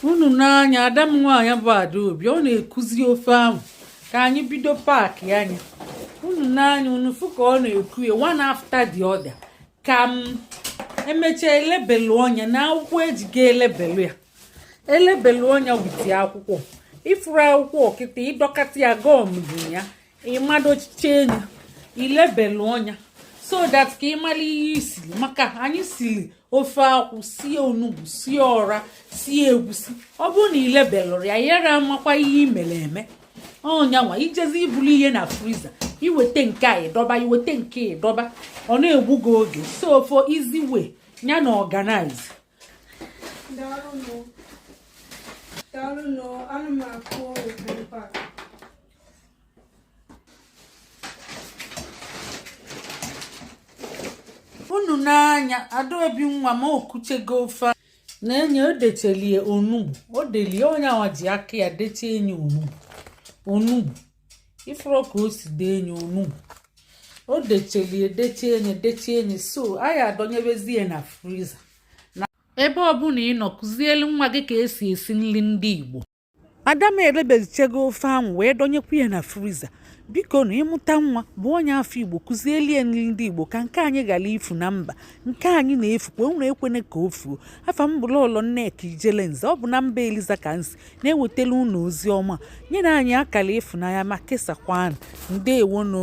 unu nee anya ada m nwaanyị bụ adaobi ọ na-ekuzi ofe ahụ ka anyị bido paakịa nya unu nee anya unu fụ ka ọ na-eku ya one after the other ka m emechaa e lebelụọ nya na akwụkwọ eji ga elebelu ya e lebelụọ nya with akwụkwọ ị fụrụ akwụkwọ kịta ị dọkata ya gọmizie ya ị madochichie nye i lebelụọ nya so that ka ị mara ihe i siri maka anyị siri ofe akwụ sie onugbu sie ọra sie egwusi ọ bụrụ na i lebelụrọ ya yara amakwa ihe i mere eme ọ nya nwa i jezie ibulu ihe na friza i weta nke a ị dọba i weta nke ị dọba ọ na-egbu gị oge so for easy way ya na organize unu nee anya adaobi nwa m o kuchego ofe na-enye o dechelie onugbu o delie ọ nya nwa ji aka ya dechie nye onugbu onugbu ị fụrụ ka o si dee nye onugbu o dechelie dechie nye dechie nye so anyị adọnyebezie na friza na ebe ọbụla ị nọ kụzielu nwa gị ka esi esi nri ndị Igbo ada m elebezichego ofe ahụ wee dọnyekwa ya na friza biko na ị mụta nwa bụ onye afọ igbo kụzielie nri ndị igbo ka nke anyị ghara ifu na mba nke anyị na-efukwa unu ekwene ka o fuo afa m bụ lọlọ nneka ijele nze ọ bụ na mba eliza ka m si na-ewetara unu ozi ọma nyenụ anyị akara ịfụnanya ma kesakwanụ ndeewonụ